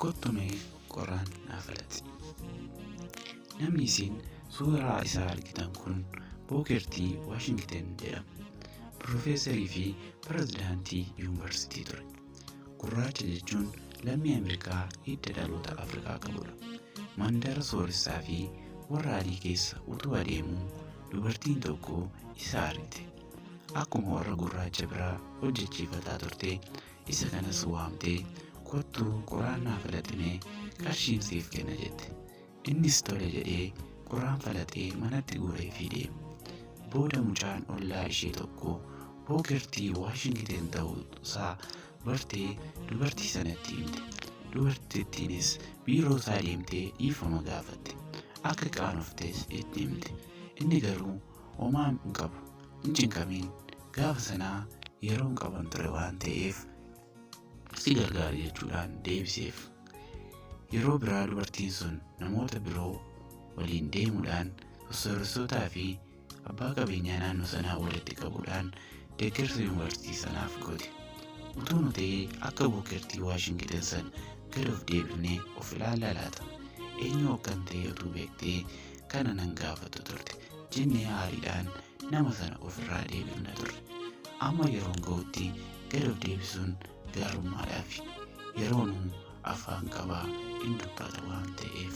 Kottu mee qoraan naaf alatti. Namni isin suuraa isaa argitan kun Bookertii Waashingten jedhama. Pirofeesarii fi pirezidaantii yuunivarsiitii ture. Gurraacha jechuun lammii Ameerikaa hidda dhaloota Afrikaa qabudha. Mandara sooressaa fi warra adii keessa utuu adeemuu dubartiin tokko isa argite. Akkuma warra gurraacha biraa hojjechiifataa turte Isa kanas waamtee kottu qoraan naa falaximee qarshiin siif kenna jette. Innis tole jedhee qoraan falaxee manatti guuree fi deeme. Booda mucaan ollaa ishee tokko bookertii Waashingiten ta'uusaa bartee dubartii sanatti himte. Dubartittiinis biiroo isaa deemtee dhiifama gaafatte. Akka qaanoftes itti himte. Inni garuu homaa hin qabu hin cinqamiin Gaafa sana yeroo hin qaban ture waan ta'eef si gargaari jechuudhaan deebiseef. Yeroo biraa dubartiin sun namoota biroo waliin deemuudhaan sossooressotaa fi abbaa qabeenyaa naannoo sanaa walitti qabuudhaan deeggarsa yuunivarsiitii sanaaf goote. Utuu nu ta'ee akka buukertii Waashingiten san gad of deebifnee of ilaallaa laata? Eenyu akkan ta'e utuu beektee kana nan gaafattu turte jennee aariidhaan nama sana ofirraa deebifna turre. Amma yeroon ga'utti gad of deebisuun gaarummaadhaafi. Yeroonuu afaan qabaa in dubbata waan ta'eef.